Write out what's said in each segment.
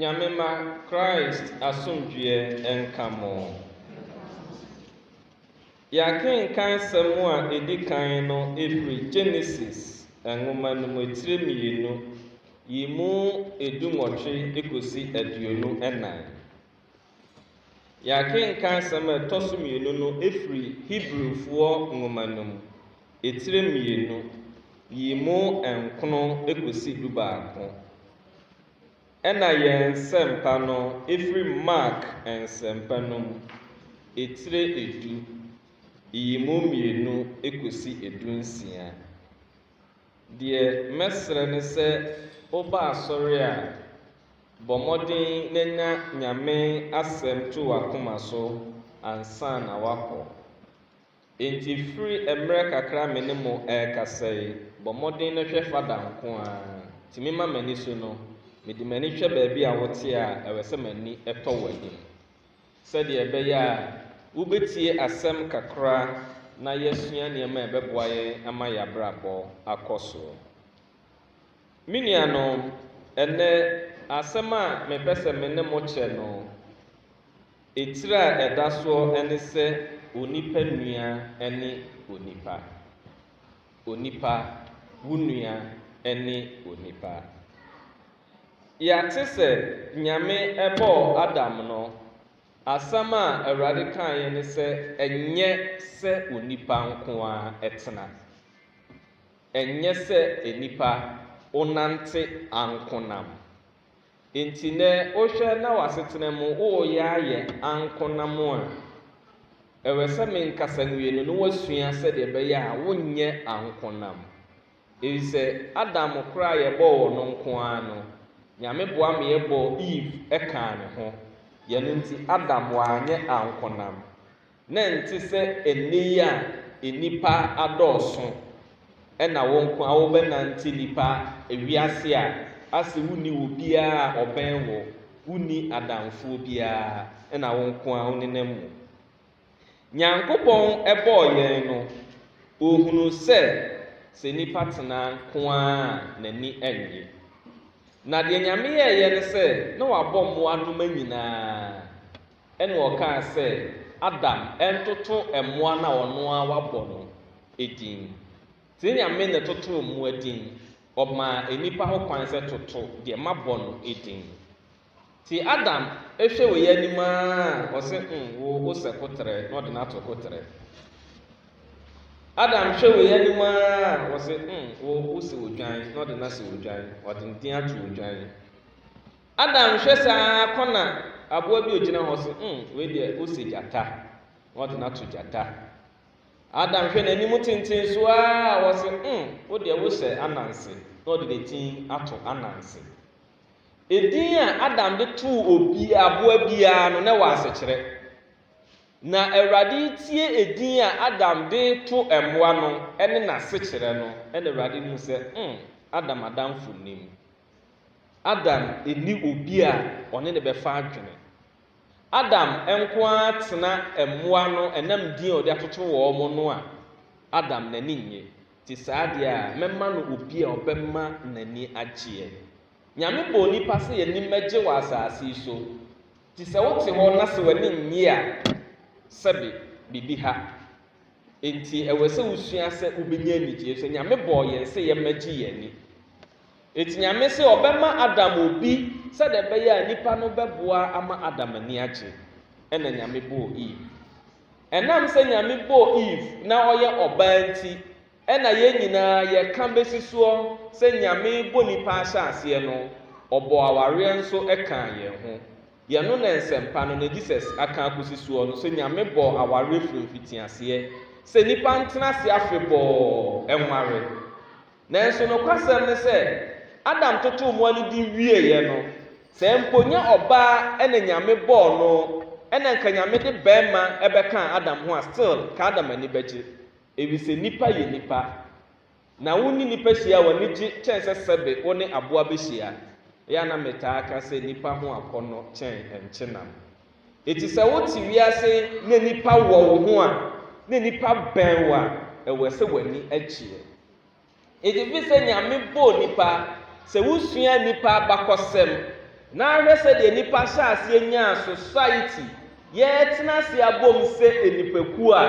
Nyame mma Christ asomdwoeɛ nka mo. Yɛakenkan nsɛm a ɛdi kan no firi Genesis nwoma no mu tire mmienu yi mu du nwɔtwe kɔsi aduonu nnan. Yɛakenkan asɛm a ɛtɔ so mmienu no afiri Hebrifoɔ nwoma no mu, etire mmienu, yi mu nkono kɔsi dubaako. Ɛna yɛn Nsɛmpa no firi Mark Nsɛmpa no mu, etire edu, yi mu mmienu kɔsi edunsia. Deɛ mɛsrɛ ne sɛ woba asɔre a, bɔ mmɔden na nya Nyame asɛm to w'akoma so ansa na woakɔ. Enti firi mmerɛ kakra a me ne mo ɛrekasa yi, bɔ mmɔden na hwɛ Fada nko ara. Tumi ma m'ani so no, mede m'ani hwɛ baabi a wote a, ɛwɛ sɛ m'ani tɔ w'anim. Sɛdeɛ ɛbɛyɛ a wobɛtie asɛm kakra na yɛasua nneɛma a ɛbɛboa yɛn ama yɛn abrabɔ akɔ so. Me nuanom, ɛnnɛ asɛm a mepɛ sɛ me ne mo kyɛ no, etire a ɛda soɔ ne sɛ onipa nua ne onipa. Onipa, wo nua ne onipa. Yɛate sɛ Nyame bɔɔ Adam no, asɛm a Awurade kaeɛ ne sɛ ɛnyɛ sɛ onipa nko ara tena, ɛnyɛ sɛ nnipa onante anko nam. Enti nnɛ wohwɛ na w'asetena mu woreyɛ ayɛ anko nam a, ɛwɛsɛ menkasa nwie no na woasua sɛdeɛ ɛbɛyɛ a wonyɛ anko nam. Efisɛ Adam koro a yɛbɔɔ wɔ no nko ara no, Nyame boa ma yɛbɔɔ Eve kaa ne ho. Yɛno nti Adam wanyɛ ankonam. Na ɛnte sɛ ɛnnɛ yi a nnipa adɔɔso na wo nko ara wobɛnante nnipa wiase a ase wonni obiara a ɔbɛn wo, wonni adamfoɔ biara na wo nko ara wonenam mu. Nyankopɔn bɔɔ yɛn no, Ohunu sɛ, sɛ nipa tena nko ara a, n'ani nnye. Na deɛ Nyame yɛeɛ ne sɛ, na Wabɔ mmoa noma nyinaa. Ɛna Ɔkaa sɛ, Adam ntoto mmoa no a ɔno ara wabɔ no din. Nti Nyame na ɛtotoo mmoa din. Ɔmaa nnipa ho kwan sɛ, Toto deɛ mabɔ no din. Tse Adam ehwɛ wei anim ara a, ɔse mm wo wo sɛ koterɛ na ɔde no ato koterɛ. Adam hwɛ wei anim ara a, ɔse mm wo wo sɛ odwan na ɔde no asɛ odwan, ɔde ne din ato odwan. Adam hwɛ saa ara kɔ na aboa bi ogyina hɔ se mm wei deɛ wo sɛ gyata na ɔde no ato gyata. Adam hwɛ n'anim tenten so ara a, ɔse mm wo deɛ wo sɛ ananse na ɔde ne tin ato ananse. Edin a Adam de too obi aboa biara no, na ɛwɔ asekyerɛ. Na Awurade retie edin a Adam de reto mmoa no ne n'asekyerɛ no, ɛnna Awurade hu sɛ, hmm, Adam adamfo nnim. Adam nni obi a ɔne no bɛfa adwene. Adam nko ara tena mmoa no ɛnam din a ɔde atoto wɔn no a, Adam n'ani nnye. Te saa deɛ a, mɛma no obi a ɔbɛma n'ani agyeɛ. Nyame bɔɔ nipa sɛ y'ani mmɛgye wɔ asase yi so. Nti sɛ wote hɔ na sɛ w'ani nnye a, sɛbe, biribi ha. Enti ɛwɛsɛ wosua sɛ wobɛnya anigyeɛ, efisɛ Nyame bɔɔ yɛn sɛ yɛmmɛgye y'ani. Enti Nyame se ɔbɛma Adam obi sɛdeɛ ɛbɛyɛ a nnipa no bɛboa ama Adam ani agye. Ɛna Nyame bɔɔ Eve. Ɛnam sɛ Nyame bɔɔ Eve na ɔyɛ ɔbaa nti, ɛna yɛn nyinaa yɛka besi soɔ sɛ Nyame bɔ nnipa ahyɛaseɛ no, ɔbɔɔ awareɛ nso kaa yɛn ho. Yɛno na Nsɛmpa no, na Jesus aka akosi soɔ no, sɛ Nyame bɔɔ awareɛ firi mfitiaseɛ, sɛ nnipa ntena ase afebɔɔ nware. Nanso nokwasɛm ne sɛ, Adam totoo mmoa no din wieeɛ no, sɛ mpo nyɛ ɔbaa na Nyame bɔɔ no na nka Nyame de bɛɛma bɛkaa Adam ho a still nka Adam ani bɛgye efisɛ nnipa yɛ nnipa na wo ne nnipa hyia a w'ani gye kyɛn sɛ sɛbe wo ne aboa bɛhyia ɛyɛ a na metaa ka sɛ nnipa ho akɔnnɔ kyɛn nkyenam eti sɛ wo te wiase na nnipa wɔ wo ho a na nnipa bɛn wo a ɛwɛ sɛ w'ani agyeɛ. Egye bi sɛ Nyame bɔɔ nnipa. Sɛ wosua nnipa abakɔsɛm na ahwɛ sɛdeɛ nnipa hyɛɛ aseɛ nyaa society, yɛɛtena ase abom sɛ nnipakuo a,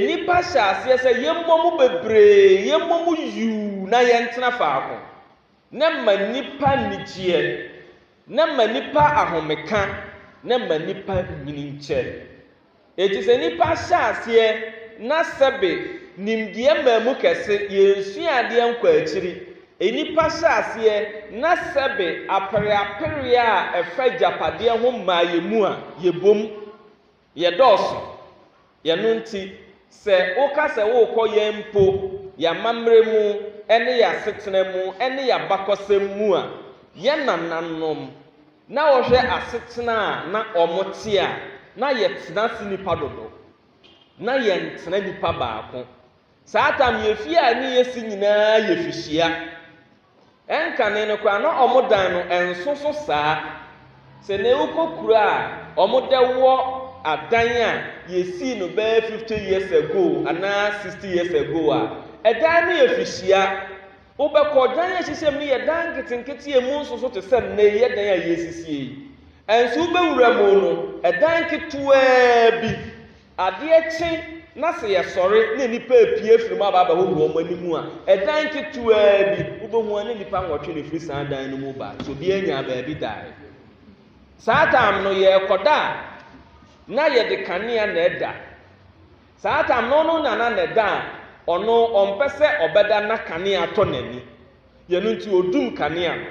nnipa hyɛɛ aseɛ sɛ yɛmmɔ mu bebree, yɛmmɔ mu yuu na yɛntena faako. Na ɛma nnipa anigyeɛ, na ɛma nnipa ahomeka, na ɛma nnipa nyini nkyɛ. Enti sɛ nnipa hyɛ aseɛ na sɛbe nimdeɛ maa mu kɛse, yɛnnsua adeɛ nkɔ akyiri, nnipa hyɛ aseɛ na sɛbe apereapereɛ a ɛfa agyapadeɛ ho maa yɛn mu a, yɛbom, yɛdɔɔso. Yɛno nti, sɛ woka sɛ worekɔ yɛn mpo, yɛn amammerɛ mu ne yɛn asetena mu ne yɛn abakɔsɛm mu a, yɛn nananom, Na wɔhwɛ asetena a na wɔte a, na yɛtena ase nnipa dodow. Ná yɛntena nipa baako. Saa tam yɛ fie a ɛne yɛn si nyinaa yɛ fihyia. Ɛnkane no koraa, na wɔn dan no nso so saa. Sɛ nnɛ wokɔ kuro a, wɔde wɔ adan a yɛsii no bɛyɛ fifty years ago anaa sixty years ago a, ɛdan no yɛ fihyia. Wobɛkɔ dan a ɛhyehyɛm no yɛ dan nketenkete a emu nsoso te sɛ nnɛyi dan a yɛresisi yi. Nanso wobɛwura mu no, dan ketewaa bi. Adeɛ kye na sɛ yɛsɔre na nnipa repue afiri mu aba abɛhohoro wɔn anim a, dan ketewaa bi, wobɛhu ara na nnipa nwɔtwe na ɛfiri saa dan no mu ba. So obiara nyaa baabi daeɛ? Saa tam no, yɛrekɔda a, na yɛde kanea na ɛda. Saa tam no no na na ne da a ɔno ɔmpɛ sɛ ɔbɛda na kanea tɔ n'ani. Yɛno nti ɔdum kanea no.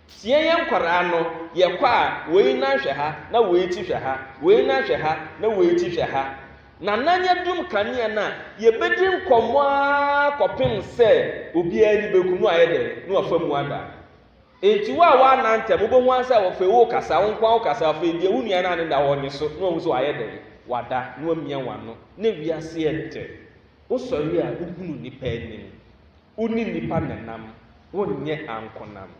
Sɛ yɛyɛ nkwadaa no, yɛkɔ a, wei nan hwɛ ha na wei ti hwɛ ha, wei nan hwɛ ha na wei ti hwɛ ha. Na nan adum kanea no a, yɛbɛdi nkɔmmɔ ara kɔpem sɛ obiara ani bɛku na wayɛ dɛn? Na wafa mu ada. Enti wo a woanna ntɛm, wobɛhu ara sɛ afei worekasa, wo nko ara wokasa, afei deɛ wo nua no a ne da hɔ ɔnye so na wahu sɛ wayɛ dɛn? Wada, na wamia w'ano. Na wiase yɛ dɛ. Wosɔre a, wohunu nnipa anim. Wo ne nnipa na ɛnam, wonyɛ ankonam.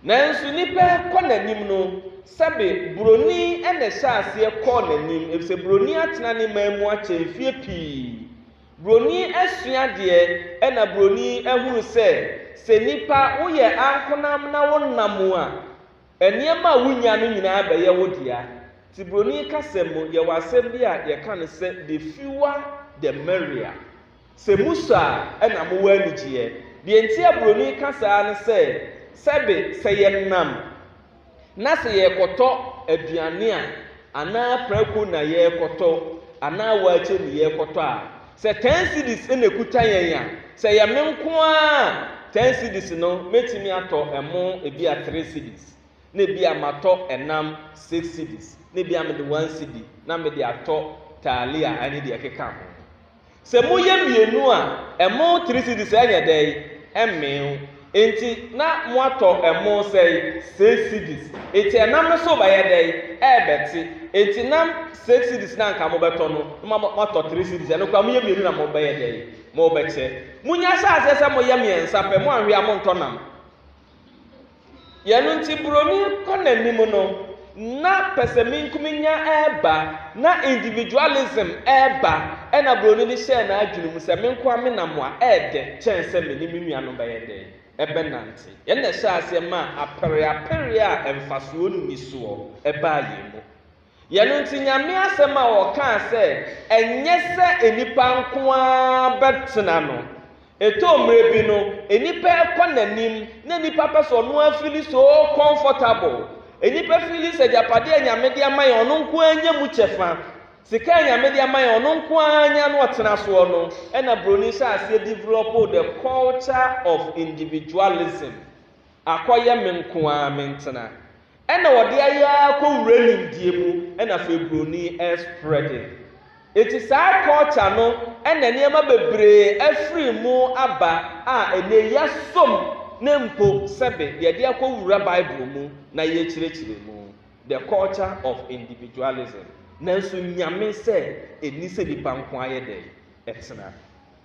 Nanso nnipa rekɔ n'anim no, sɛbe buroni na ɛhyɛɛ aseɛ kɔɔ n'anim, efisɛ buroni atena ne man mu akyɛ mfeɛ pii. Broni asua deɛ ɛna broni ahunu sɛ sɛ nipa woyɛ ankonam na wo nna mu a ɛneɛma a wonya no nyinaa bɛyɛ wo dea nti broni kasa mu yɛwɔ asɛm bi a yɛka no sɛ the fewer the merrier sɛ musɔ a ɛna mowɔ anigyeɛ deɛ nti a broni ka saa ne sɛ sɛbe sɛ yɛnam na sɛ yɛrekɔtɔ aduane a anaa prako na yɛrekɔtɔ anaa waakye ne yɛrekɔtɔ a, sɛ ten cedis na ɛkuta yɛn a, sɛ yɛ me nko ara ten cedis no, mɛtumi atɔ ɛmo ebi a three cedis, na ebi a matɔ ɛnam six cedis, na ebi a mede one cedi na mede atɔ taalia ne deɛ ɛkeka ho. Sɛ moyɛ mmienu a, ɛmo three cedis ɛnyɛ dɛn? Ɛmmee wo. Enti na moatɔ ɛmo sɛn? Six cedis. Enti ɛnam no so rebɛyɛ dɛn? Ɛrebɛte. Enti nam six cedis no a anka mobɛtɔ no, na moama moatɔ three cedis. Ɛno koraa moyɛ mmienu na mobɛyɛ dɛn? Mobɛkyɛ. Monnya ahyɛ aseɛ sɛ moyɛ mmiɛnsa pɛ, moanhwe a montɔ nam. Yɛ no nti buroni kɔ n'anim no, na pɛsɛmenkominya reba, na individualism reba, ɛna buroni no hyɛɛ n'adwene mu sɛ, me nko ara me na moa, ɛyɛ dɛ kyɛn sɛ me ne me nuanom bɛyɛ dɛn? Ɛbɛnante. Yɛn na ɛhyɛɛ aseɛ maa apereapereɛ a mfasoɔ nni soɔ baa yɛn mu. Yɛ no nti Nyame asɛm a ɔkaa sɛ ɛnyɛ sɛ nnipa nko ara bɛtena no, ɛtɔ mmerɛ bi no nnipa ɛkɔ nanim na nnipa pɛ sɛ ɔno ara fili so comfortable, nnipa fili sɛ agyapadeɛ a Nyame de ama yɛn ɔno nko ara nya mu kyɛfa, sika a Nyame de ama yɛn ɔno nko ara nya na ɔtena soɔ no ɛna broni hyɛ aseɛ develop the culture of individualism, akɔyɛ me nko ara mentena. Ɛna wɔde ayɛ ara kɔ wura nimdeɛ mu ɛna afei broni ɛsprɛde. Enti saa culture no ɛna nneɛma bebree afiri mu aba a ɛnɛ yɛasom no mpo sɛbe yɛde akɔ wura bible mu na yɛrekyerɛkyerɛ mu, the culture of individualism. Nanso nyame sɛ ɛnni sɛ nipa nko ara yɛ dɛn? Ɛtena.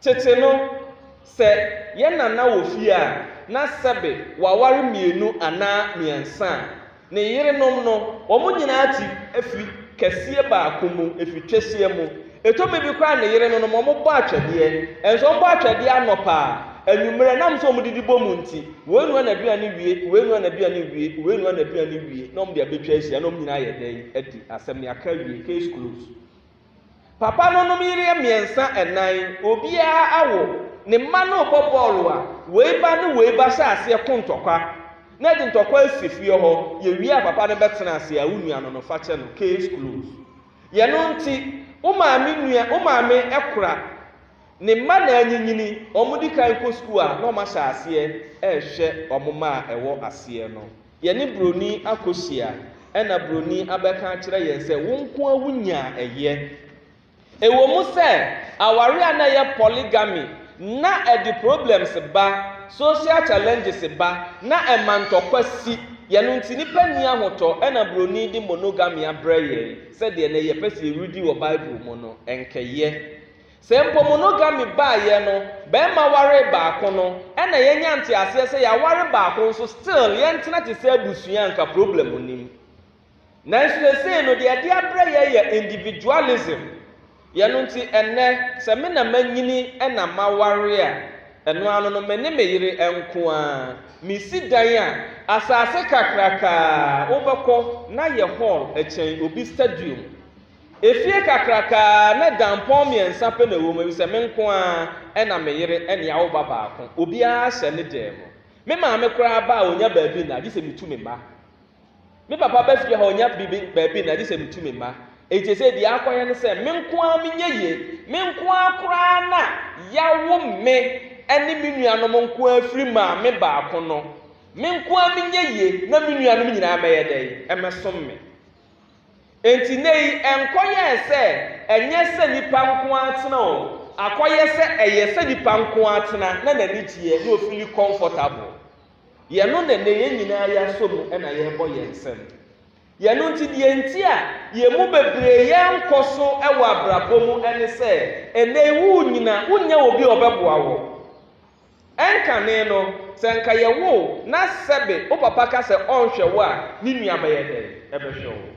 Tete no, sɛ yɛn nana wɔ fie a na sɛbe waware mmienu anaa mmiɛnsa a, ne yerenom no, wɔn nyinaa te afiri kɛseɛ baako mu, afiri twɛseɛ mu. Ɛtɔ mmere bi koraa a ne yerenom no, wɔbɔ atwɛdeɛ. Ɛnso wɔbɔ atwɛdeɛ anɔpa, anwummerɛ, ɛnam sɛ wɔdidi bɔ mu nti, wei noa n'aduane wie, wei noa n'aduane wie, wei noa n'aduane wie, na wɔde abɛtwa ahyia, na wɔn nyinaa ayɛ dɛn? Adi asɛm, yɛaka awie, case closed. Papa no nom yere mmiɛnsa ɛnan, obiara awo, ne mma no rebɔ bɔɔlo a wei ba ne wei ba hyɛ aseɛ ko ntɔkwa na ɛde ntɔkwa asi fie hɔ, yɛwie a papa no bɛtena ase a wo nua no no fakyɛ no, case closed. Yɛno nti wo maame nua, wo maame ɛkora ne mma na anyinyini, wɔn di kan kɔ sukuu a na wɔn ahyɛ aseɛ ɛrehwɛ wɔn mma a ɛwɔ aseɛ no. Yɛne buroni akɔhyia, ɛnna buroni abɛka akyerɛ yɛn sɛ, Wo nko ara wunyaa ɛyɛ. Ɛwom sɛ aware a na ɛyɛ polygamy na ɛde problems ba, social challenges ba, na ɛma ntɔkwa si, yɛ ɛno nti nnipa nni ahotɔ, ɛnna buroni de monogamy abrɛ yɛn sɛ deɛ nnɛ yɛpɛ sɛ yɛredi wɔ Bible mu no, ɛnkɛyɛ. Sɛ mpo monogamy baeɛ no, barima waree baako no, ɛna yɛnya nteaseɛ sɛ yɛaware baako nso still yɛntena te sɛ abusua a anka problem nnim. Nanso seesei no deɛ ɛde abrɛ yɛn yɛ individualism. Yɛno nti ɛnnɛ sɛ me na manyini ɛna maware a, ɛno ara no no me ne me yere nko ara. Mesi dan a, asaase kakrakaa a wobɛkɔ na yɛ hall kyɛn obi stadium. Efie kakraka a na dampɔn mmiɛnsa pɛ na ɛwɔ mu, efisɛ me nko ara, ɛna me yere ne awo ba baako. Obiara hyɛ ne dan mu. Me maame koraa ba a, ɔnya baabi nna, gye sɛ metu me mma. Me papa ba fie hɔ a, ɔnya biribi, baabi nna, gye sɛ metu me mma. Enti seesei deɛ akɔyɛ ne sɛ, me nko ara menyɛ yie. Me nko ara koraa na wɔawo me ne me nuanom nko ara firi maame baako no. Me nko ara menyɛ yie na me nuanom nyinaa mmɛyɛ dɛn? Mmɛsom me. Enti nnɛyi ɛnkɔyɛɛ sɛ ɛnyɛ sɛ nnipa nko ara tena o, akɔyɛ sɛ ɛyɛ sɛ nnipa nko ara tena na n'ani gyeɛ na ɔfili comfortable. Yɛno na nnɛ yɛn nyinaa yɛasɔ mu na yɛrebɔ yɛn nsam. Yɛno nti deɛ nti a yɛn mu bebree yɛnkɔ so wɔ abrabɔ mu ne sɛ, nnɛyi worenyina, wonnya obi a ɔbɛboa wo. Ɛnkane no, sɛ anka yɛwo wo na sɛbe wo papa ka sɛ ɔnhwɛ wo a, ne nua bɛyɛ dɛn? Ɛbɛhwɛ wo.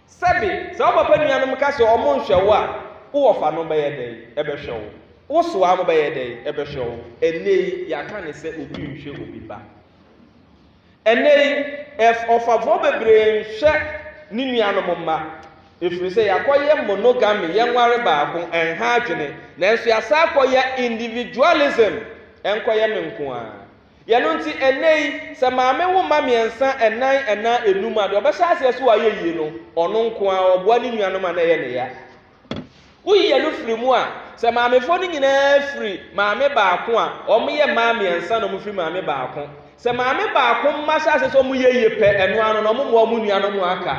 Sɛbe sɛ wo papa nuanom ka sɛ wɔnhwɛ wo a, wo wɔfanom bɛyɛ dɛn? Ɛbɛhwɛ wo. Wo sowanom bɛyɛ dɛn? Ɛbɛhwɛ wo. Ɛnnɛyi, yɛaka no sɛ obi nhwɛ obi ba. Ɛnnɛyi, ɔfafoɔ bebree nhwɛ ne nuanom mma, ɛfiri sɛ yɛakɔyɛ monogamy, yɛnware baako, ɛnha adwene, nanso yɛasan akɔyɛ individualism, ɛnkɔyɛ me nko ara. Yɛno nti, ɛnnɛyi, sɛ maame wo mma mmiɛnsa, ɛnan anaa ɛnum a, deɛ ɔbɛhyɛ aseɛ sɛ wayɛ yie no, ɔno nko ara, ɔboa ne nuanom a na ɛyɛ ne ya. Woyi yɛn no firi mu a, sɛ maamefoɔ no nyinaa firi maame baako a, wɔyɛ mmaa mmiɛnsa na wɔfiri maame baako. Sɛ maame baako mma hyɛ ase sɛ wɔyɛ yie pɛ, ɛno ano na wɔmmoa wɔn nuanom a aka.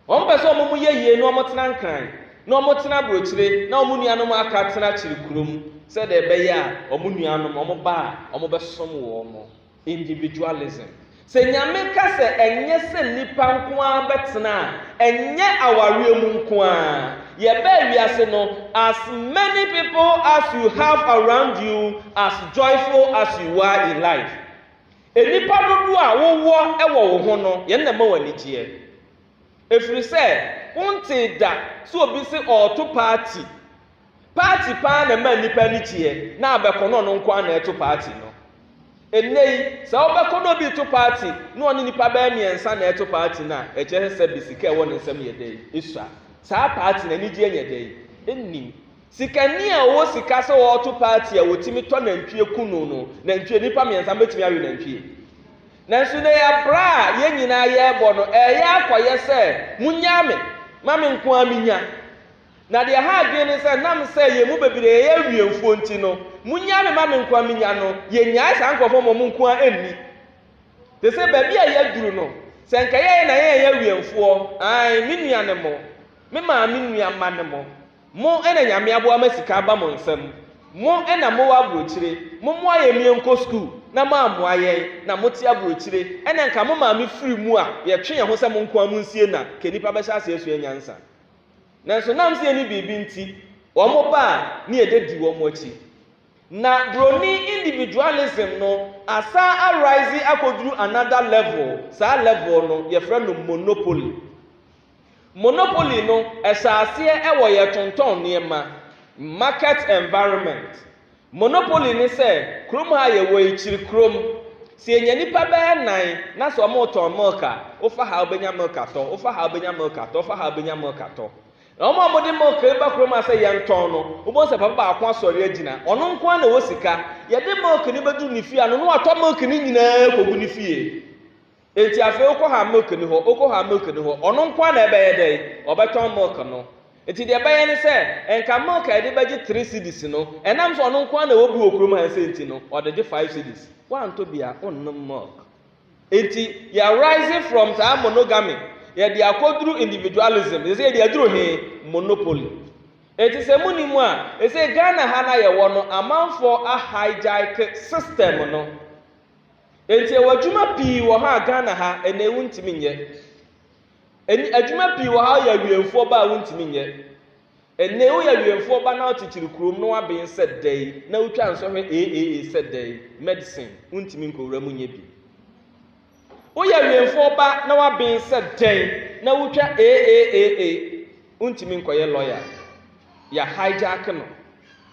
Wɔpɛ sɛ wɔn yɛ yie na wɔtena nkran, na wɔtena aburokyire, na wɔn nuanom a aka tena akyiri kurom, sɛdeɛ ɛbɛyɛ a wɔn nuanom, wɔn ba a wɔbɛsom wɔn no, Individualism. Sɛ Nyame ka sɛ ɛnyɛ sɛ nnipa nko ara bɛtena a, ɛnyɛ awareɛ mu nko ara. Yɛbaa wiase no, as many people as you have around you as joyful as you are in life. Nnipa dodoɔ a wowɔ wɔ wo ho no, yɛn na ɛma wo anigyeɛ. Ɛfiri sɛ, wontee da sɛ obi se ɔreto paati. Party paa na ɛma nnipa ani gyeɛ na abɛkɔnɔ no nkoaa na ɛto party no. Ɛnnɛ yi, sɛ wobɛkɔnɔ obi reto party na ɔne nnipa bɛyɛ mmiɛnsa na ɛreto party no a, ɛkyerɛ sɛ bi sika a ɛwɔ ne nsam yɛ dɛn? Ɛsua. Saa party no anigyeɛ nyɛ dɛn? Ɛnnim. Sikani a ɔwɔ sika sɛ ɔreto party a ɔtumi tɔ nantwie ku no no, nantwie, nnipa mmiɛnsa no bɛtumi awe nantwie. Nanso nnɛ yi abra a yɛn nyinaa yɛrebɔ no, ɛreyɛ akɔyɛ sɛ monnyaa me, ma me nkoaa menya. Na deɛ ɛha adwene ne sɛ, nam sɛ yɛn mu bebree yɛyɛ awiɛmfoɔ nti no, monnyae me ma me nko ara mennya no. Yɛnnyae saa nkurɔfoɔ ma wɔn nko ara nni. Te sɛ baabi a yɛaduru no, sɛ anka yɛyɛ na yɛn yɛ awiɛmfoɔ, aane, me nuanom, mo, me maame nua mma no mo, mo na Nyame aboa ma sika aba mo nsam, mo na mowɔ aburokyire, mommoa yɛn yɛnkɔ sukuu, na moammoa yɛn, na mote aburokyire, ɛna anka mo maame firi mu a, yɛtwe yɛn ho sɛ mo nko ara monsie na, ka nnipa bɛhyɛ aseɛ asua nyansa. Nanso na ɛnsɛ sɛ yɛne biribi nti wɔba a na yɛdedi wɔn akyi. Na Buroni individualism no asan a rise akɔduru another level, saa level no yɛfrɛ no monopoly. Monopoly no hyɛɛ aseɛ wɔ yɛtontɔn nneɛma, market environment. Monopoly ne sɛ kurom ha a yɛwɔ yi, kyiri kurom, sɛ yɛnya nnipa bɛyɛ nnan na sɛ wɔretɔn milk a, wofa ha a wobɛnya milk atɔ, wofa ha a wobɛnya milk atɔ, wofa ha a wobɛnya milk atɔ. Na wɔn a wɔde milk reba kurom ha sɛ yɛntɔn no, wobɛhu sɛ papa baako asɔre agyina, ɔno nko ara na ɔwɔ sika. Yɛde milk no bɛduru ne fie ano na watɔ milk no nyinaa kɔgu ne fie. Enti afei wokɔ ha a milk nni hɔ, wokɔ hɔ a milk nni hɔ, ɔno nko ara na ɛbɛyɛ dɛn? Ɔbɛtɔn milk no. Enti deɛ ɛbɛyɛ ne sɛ, nka milk a yɛde bɛgye three cedis no, ɛnam sɛ ɔno nko ara na ɛwɔ bi wɔ kurom ha nsɛ nti no, ɔde gye five cedis. Woantɔ bi a, wonnom milk. Enti yɛ arise from saa monogamy, yɛde akɔduru individualism, ɛsɛ sɛ yɛde aduru he? Monopoly. Enti sɛ monim a, ɛsɛ Ghana ha no a yɛwɔ no, amanfoɔ a hijack system no. Enti ɛwɔ adwuma pii wɔ ha a Ghana ha ɛnnɛ yi wontumi nyɛ. Ɛnn adwuma pii wɔ ha a woyɛ awiɛmfoɔ ba a wontumi nyɛ. Ɛnnɛ yi woyɛ awiɛmfoɔ ba na wokyekyere kurom na woaben sɛ dɛn na wotwa nsɔhwɛ eeeee sɛ dɛn, medicine wontumi nkɔwura mu nyɛ bi. Woyɛ awiɛmfoɔ ba na woaben sɛ dɛn na wotwa eeeeee. Ontumi nkɔyɛ lawyer. Yɛ hijack no.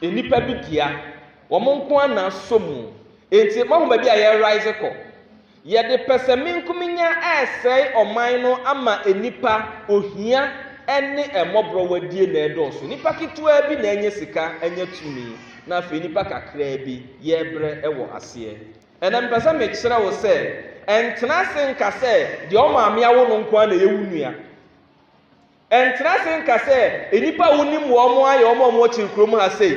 Nnipa bi dea. Wɔn nko ara na asɔ mu. Enti moahu baabi a yɛ rise kɔ? Yɛde pɛsɛmenkominya resɛe ɔman no ama nnipa ohia ne mmɔborɔwadie na ɛredɔɔso. Nnipa ketewaa bi na anya sika anya tumi na afei nnipa kakraa bi yɛrebrɛ wɔ aseɛ. Ɛnna mepɛ sɛ mekyerɛ wo sɛ, ntena ase nka sɛ deɛ wo maame awo no nko ara na ɛyɛ wo nua. Ɛntra ase nka sɛ nnipa a wonim wɔn ayɛ wɔn a wɔwɔ kyiri kurom ha sei.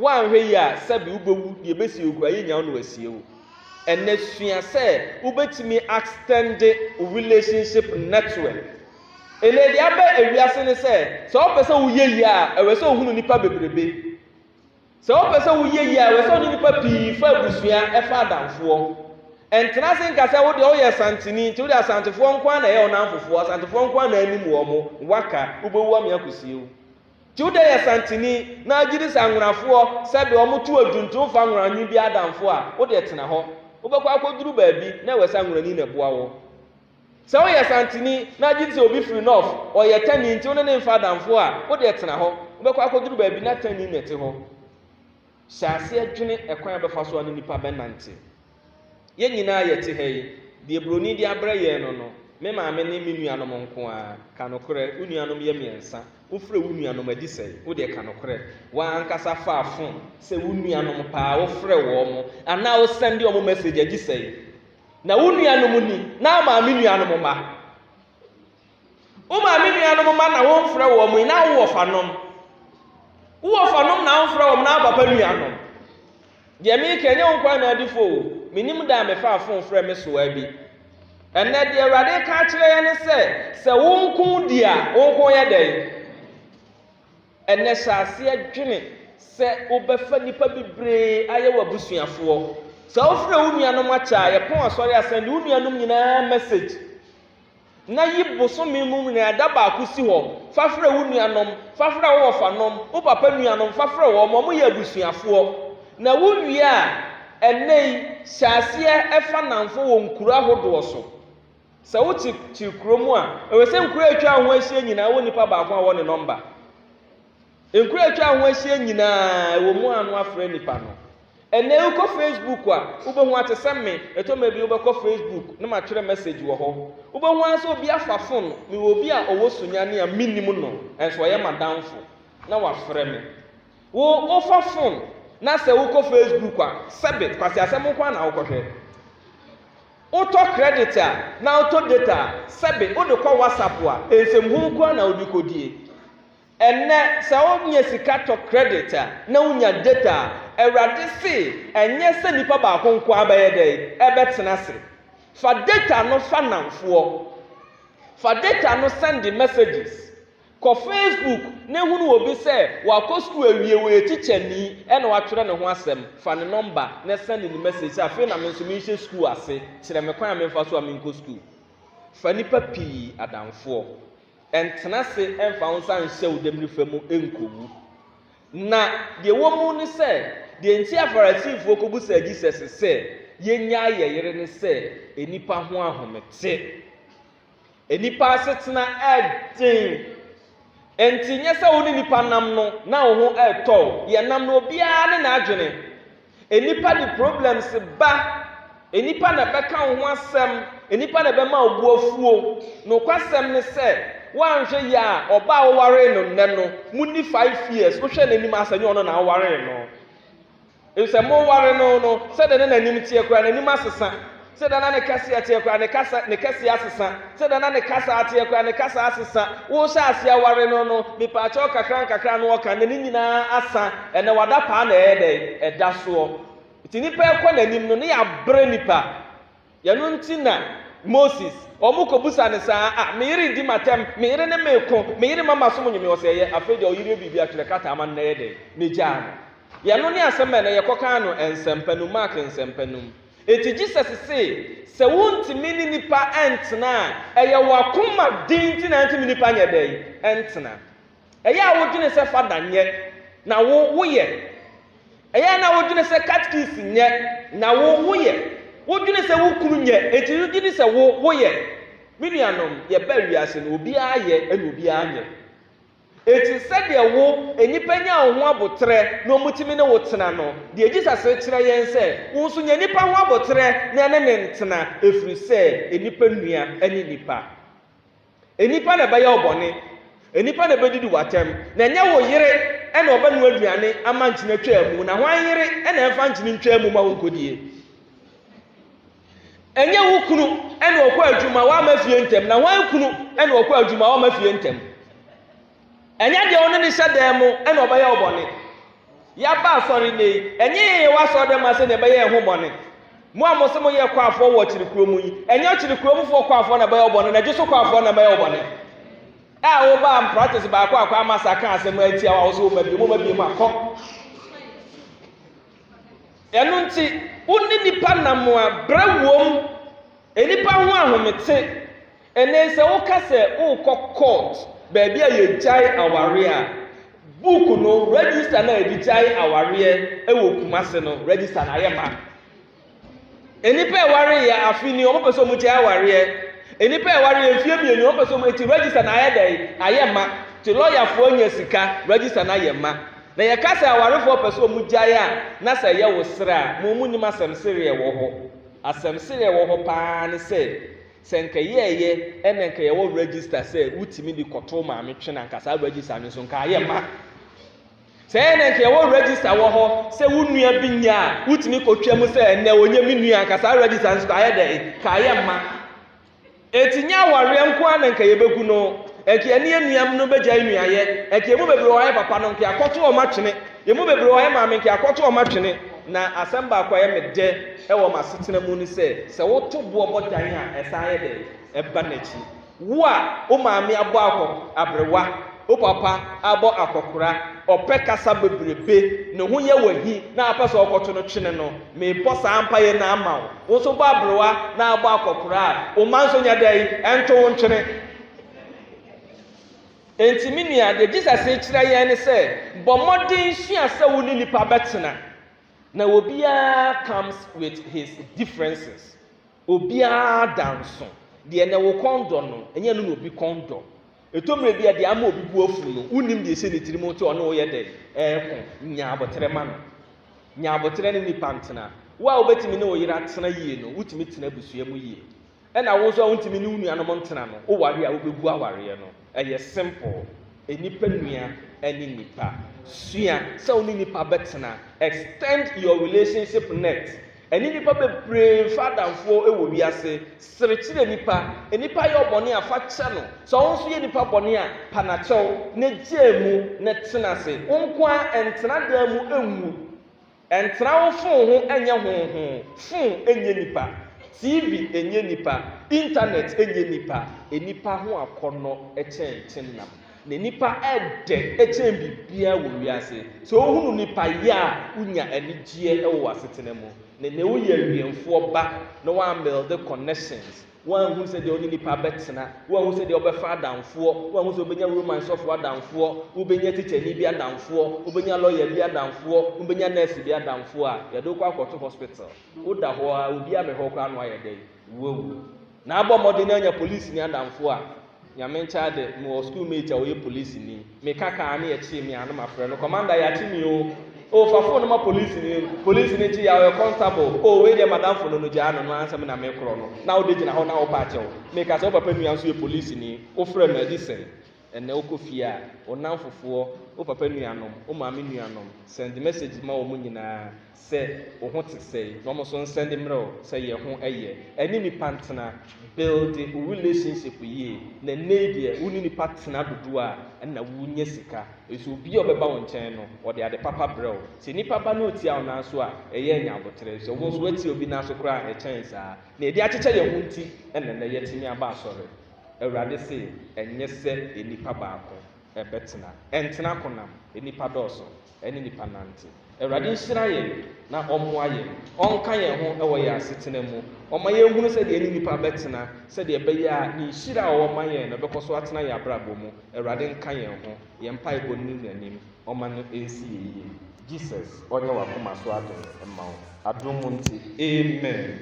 Woanhwɛ yi a, sɛbi wobɛwu, deɛ ɛbɛsie okura yɛ nyaw no asie wo. Ɛnɛ sua sɛ wobɛtumi extend wo relationship network. Ɛnɛ deɛ aba ewiase ne sɛ, sɛ wopɛ sɛ woyɛ yie a, ɛwɛ sɛ wohunu nnipa bebrebe. Sɛ wopɛ sɛ woyɛ yie a, ɛwɔ sɛ wo ne nnipa pii fa abusua, fa adamfoɔ. Ntena ase nka sɛ wo deɛ woyɛ Asanteni nti wode Asantefoɔ nko ara na ɛyɛ wo nnamfofoɔ, Asantefoɔ nko ara na anim wɔn, waka, wobɛwu ame akɔsie wo. Nti wo deɛ yɛ Asanteni na agye di sɛ Anwonafoɔ sɛbe wɔn to adwu nti womfa Anwonanyi biara adamfo a, wo deɛ tena hɔ. Wobɛkɔ akɔduru baabi na ɛwɔ sɛ Anwonani na ɛboa wo. Sɛ woyɛ Asanteni na gye sɛ obi firi Nɔf, ɔyɛ Tani nti wo ne ne mfa adamfoɔ a, wo deɛ tena hɔ. Wobɛkɔ akɔduru baabi na Tani na ɛte hɔ. Hyɛ aseɛ dwene ɛkwan a wobɛfa so a ne nnipa bɛnante. Yɛn nyinaa a yɛte ha yi, deɛ buroni de abrɛ yɛn no no, me maame ne me nuanom nko ara. Ka nokorɛ, wo nuanom yɛ mmiɛnsa. Wofrɛ wo nuanom adi sɛn? Wo deɛ ka nokorɛ. Wo ara ankasa fa fon sɛ wo nuanom paa wofrɛ wɔn anaa wo sɛnde wɔn message adi sɛn? Na wo nuanom ni, na maame nuanom mma. Wo maame nuanom mma na womfrɛ wɔn yi, na wo wɔfanom. Wo wɔfanom na womfrɛ wɔn, na wo papa nuanom. Deɛ meka nyɛ wo nkwa na adifo o, menim da a mefa afon frɛ me soa bi. Ɛnɛ deɛ Awurade ka akyerɛ yɛn ne sɛ, sɛ wo nko di a, wo nko yɛ dɛn? Ɛnnɛ, hyɛ aseɛ dwene sɛ wobɛfa nnipa bebree ayɛ w'abusuafoɔ. Sɛ wofrɛ wo nuanom akyɛ a, yɛpɔn Asɔre a sɛnde wo nuanom nyinaa mɛsage, na yi bosome mu nyinaa da baako si hɔ fa frɛ wo nuanom, fa frɛ wo wɔfanom, wo papa nuanom fa frɛ wɔn, wɔyɛ abusuafoɔ. Na wowie a, ɛnnɛ yi, hyɛ aseɛ fa nnamfo wɔ nkuro ahodoɔ so. Sɛ wote te kuro mu a, ɛwɛ sɛ nkuro a atwa ho ahyia nyinaa wɔ nipa baako a wɔ ne nɔmba. Nkuro a atwa ho ahyia nyinaa ɛwɔ mu ano afrɛ nipa no. Ɛnɛ wokɔ Facebook a, wobɛhu ate sɛ me, ɛtɔ ma bi wobɛkɔ Facebook na matwerɛ message wɔ hɔ. Wobɛhu ara sɛ obi afa fon, mewɔ obi a ɔwɔ Sunyani a mennim no, nanso ɔyɛ m'adamfo, na wafrɛ me. Wo, wofa fon na sɛ wokɔ Facebook a, sɛbe, kwaseasɛm nko ara na wokɔhwɛ. Wotɔ credit a na wotɔ data a, sɛbe wode kɔ WhatsApp a, nsɛmhunu koraa na wode kɔdie. Ɛnnɛ sɛ wonya sika tɔ credit a, na wonya data a, Awurade se ɛnyɛ sɛ nipa baako nko ara bɛyɛ dɛn? Ɛbɛtena ase. Fa data no fa nnamfoɔ. Fa data no sɛnde messages. Kɔ Facebook na hunu obi sɛ wakɔ sukuu awie, ɔyɛ tikyani na watwerɛ ne ho asɛm. Fa ne nɔmba na sɛnde no mɛsage sɛ, Afei na me nso merehyɛ sukuu ase, kyerɛ me kwan a memfa so a menkɔ sukuu. Fa nnipa pii adamfoɔ. Ntena ase mfa wo nsa nhyɛ wo dɛmirifa mu nkɔwu. Na deɛ ɛwɔ mu ne sɛ, deɛ enti a Farisifoɔ kɔbisaa Jesus sɛ, Yɛnnyae yɛn yere ne sɛ, nnipa ho ahomete. Nnipa asetena yɛ den, enti nyɛ sɛ wo ne nnipa nam no na wo ho retɔ wo. Yɛnam no, obiara ne n'adwene. Nnipa de problems ba. Nnipa na ɛbɛka wo ho asɛm. Nnipa na ɛbɛma wo bo afuo. Nokwasɛm ne sɛ, woanhwɛ yie a, ɔbaa a wowaree no nnɛ no, munni five years, wohwɛ n'anim a, sɛ ɛnyɛ ɔno na wowaree no. Efisɛ moware no no, sɛdeɛ na n'anim teɛ koraa, n'anim asesa, sɛdeɛ na ne kɛseɛ teɛ koraa, ne kasa, ne kɛseɛ asesa, sɛdeɛ na ne kasa teɛ koraa, ne kasa asesa. Wohyɛ aseɛ ware no no, mepaakyɛw nkakrankakra na ɔka, na ne nyinaa asa. Ɛnnɛ, wada paa na ɛyɛ dɛn? Ɛda soɔ. Enti nnipa rekɔ n'anim no, ne yɛ abrɛ nnipa. Ɛno nti na Moses, wɔkɔbisa no saa, Ah, me yere redi me atɛm, me yere ne me reko, me yere ma masom nnwom, ɔse ɛyɛ, afei deɛ ɔyere yɛ biribi a twerɛ krataa ma no na ɛyɛ dɛn? Na ɛgyaa no. Ɛno ne asɛm a ɛnɛ yɛkɔkaa no Nsɛmpa no mu, Mark Nsɛmpa no mu. Enti Jesus se, sɛ wontumi ne nnipa ntena a, ɛyɛ wɔn akoma den nti na ɛntumi nnipa nyɛ dɛn? Ntena. Ɛyɛ a wodwene sɛ fada nyɛ, na wo, woyɛ? Ɛyɛ a na wodwene sɛ katkis nyɛ, na wo, woyɛ? Wodwene sɛ wo kunu nyɛ, enti wogye di sɛ wo, woyɛ? Me nuanom, yɛbaa wiase no, obiara yɛ, ɛna obiara nyɛ. Enti sɛdeɛ wo, nnipa nya wo ho aboterɛ na wɔtumi ne wo tena no, deɛ Jesus rekyerɛ yɛn sɛ, wo nso nya nnipa ho aboterɛ na ɛne no ntena, ɛfiri sɛ nnipa nnua ne nnipa. Nnipa na ɛbɛyɛ wo bɔne, nnipa na ɛbɛdidi wo atɛm, na ɛnyɛ wo yere na ɔbɛnoa aduane ama nkyene atwaa mu, na hwan yere na ɛmfa nkyene ntwaa mu ma wo nkɔdie? Ɛnyɛ wo kunu na ɔkɔ adwuma wamma fie ntɛm, na hwan kunu na ɔkɔ adwuma wamma fie ntɛm? Ɛnyɛ deɛ ɔne no hyɛ dan mu na ɔbɛyɛ wo bɔne. Yɛaba asɔre nnɛ yi, ɛnyɛ yɛn yɛwɔ asɔre dan mu ase na ɛbɛyɛ yɛn ho bɔne. Mo a mo se moyɛ kwafoɔ wɔ ɔkyere kuro mu yi, ɛnyɛ ɔkyere kuro mu foɔ kwafoɔ na ɛbɛyɛ wo bɔne, na gye so kwafoɔ na ɛbɛyɛ wo bɔne. A wobaa mpractice baako akɔ ama sa ka asɛm atia wo a wosɛ woma bie mu, woma bie mu akɔ. Ɛno nti, wo ne nipa nam a, brɛ wom, nipa ho ahomete, Ɛnnɛ yi, sɛ woka sɛ worekɔ kɔɔt baabi a yɛgyae awareɛ a, book no, register no a yɛde gyae awareɛ wɔ Kumasi no, register no ayɛ ma. Nnipa a ɛwareeɛ afe ni, wɔpɛ sɛ wɔgyae awareɛ. Nnipa a ɛwareeɛ mfeɛ mmienu, wɔpɛ sɛ wɔn eti register no ayɛ dɛn? Ayɛ ma. Nti lɔyafoɔ nya sika, register no ayɛ ma. Na yɛka sɛ awarefoɔ pɛ sɛ wɔgyae a, na sɛ ɛyɛ wo serɛ a, mo monim asɛm sereɛ wɔ hɔ. Asɛm sereɛ wɔ hɔ paa ne sɛ, Sɛ anka yɛɛyɛ ɛna anka yɛwɔ register sɛ wotumi de kɔto maame twene anka saa register no so anka ayɛ ma sɛ ɛna anka yɛwɔ register wɔ hɔ sɛ wo nua bi nya a wotumi kɔtwa mu sɛ ɛnɛ ɔnyɛ me nua anka saa register no so ayɛ dɛ ka ayɛ ma eti nya awareɛ nko ara na anka yɛbɛgu no anka yɛne anuam no bɛgya nnuayɛ anka emu bebree wɔayɛ papa no anka yɛakɔto wɔn atwene emu bebree wɔayɛ maame anka yɛakɔto wɔn atwene Na asɛm baako a ɛyɛ me dɛ wɔ m'asetena mu ne sɛ, sɛ woto bo bɔ tan a, ɛsan yɛ dɛn? Ɛba n'akyi. Wo a wo maame abɔ akɔ aberewa, wo papa abɔ akɔkora, ɔpɛ kasa bebrebe, ne ho yɛ wo ahi na wopɛ sɛ wokɔto no twene no, mebɔ saa mpaeɛ no ara ma wo. Wo nso bɔ aberewa na abɔ akɔkora a, wo mma nso nyɛ dɛn? Ɛnto wo ntwene. Enti me nua, deɛ Jesus rekyerɛ yɛn ne sɛ, bɔ mmɔden sua sɛ wo ne nnipa bɛtena. Na obiara comes with his differences. Obiara da nso. Deɛ na wo kɔn dɔ no, ɛnyɛ no na obi kɔn dɔ. Ɛtɔ mmerɛ bi a deɛ ama obi bo afu no, wonnim deɛ ɛsɛ ne tirim nti ɔne wo yɛ dɛ ɛreko. Nya aboterɛ ma no. Nya aboterɛ ne nnipa ntena. Wo a wobɛtumi ne wo yere atena yie no, wotumi tena abusua mu yie. Ɛna wo nso a wontumi ne wo nuanom ntena no, woware a wobɛgu awareɛ no. Ɛyɛ simple. Nnipa nua ne nnipa. Sua sɛ wo ne nnipa bɛtena. Extend your relationship net. Ɛne nnipa bebree mfa adamfoɔ wɔ wiase. Sere kyerɛ nnipa. Nnipa yɛ wo bɔne a, fa kyɛ no. Sɛ wo nso yɛ nnipa bɔne a, pa no akyɛw na gyaa mu na tena ase. Wo nko ara, ntena dan mu nwu. Ntra wo fon ho nyɛ honhon. Fon nyɛ nipa. TV nyɛ nipa. Intanɛt nyɛ nipa. Nnipa ho akɔnnɔ kyɛn kyenam. Na nnipa dɛ kyɛn biribiara wɔ wiase. Sɛ wohunu nipa yɛ a, wonya anigyeɛ wɔ w'asetena mu. Ne ne woyɛ awiɛmfoɔ ba na woamelde connections. Wanhunu sɛdeɛ ɔne nnipa bɛtena, wanhunu sɛdeɛ ɔbɛfa adamfoɔ, wanhunu sɛ ɔbɛnya Roman sɔfoɔ adamfoɔ, wobɛnya tikyani bi adamfoɔ, wobɛnya lɔya bi adamfoɔ, wobɛnya nɛɛse bi adamfoɔ a yɛde wo kɔ akɔto hospital. Woda hɔ ara, obi amɛhwɛ wo koraa na woayɛ dɛn? Woawu. Na abɔ mmɔden anya polisini adamfoɔ a Nyame nkyɛ ade mewɔ school mate a ɔyɛ police ni me ka kaa ne yɛkyee me ano mafrɛ no commander yɛakye me o o fa phone ma police ni police ni kye yɛ ɔyɛ constable o wei deɛ madam phone no gyaa no no ansa me na me korɔ no na wode gyina hɔ na wo pa akyɛw me ka sɛ wo papa nua nso yɛ police ni wo frɛ no adi sɛn ɛnɛ wokɔ fie a wo namfofoɔ wo papa nuanom wo maame nuanom send message ma wɔn nyinaa sɛ wo ho te sɛe na wɔn so nsɛnde mmerɛ wo sɛ yɛ ho yɛ ɛne nipa ntena builde wo relationship yie na nnɛi deɛ wo ne nipa tena dodoɔ a ɛna wo nya sika nso obia ɔbɛba wo nkyɛn no ɔde ade papa brɛ wo sɛ nipa ba na ɔtia wo nan so a ɛyɛ anya aboterɛ sɛ wo nso watia obi nan so koraa a ɛkyɛn saa na yɛde akyekyɛ yɛ ho nti ɛna nnɛ yɛtumi aba asɔre awurade se ɛnyɛ sɛ nipa baako ɛbɛtena ɛntena konam nipa dɔɔso. ɛne nnipa nante. Awurade nhyira yɛn na ɔmmoa yɛn, ɔnka yɛn ho wɔ yɛn asetena mu, ɔma yɛnhunu sɛdeɛ ɛne nnipa bɛtena, sɛdeɛ ɛbɛyɛ a ne nhyira a ɔwɔ ma yɛn no bɛkɔ so atena yɛn abrabɔ mu. Awurade nka yɛn ho, yɛn mpaebɔ no ne n'anim, ɔma no nsi yɛn yie. Jesus ɔnyɛ w'akoma so adom mma wo. Adom mu nte. Amen.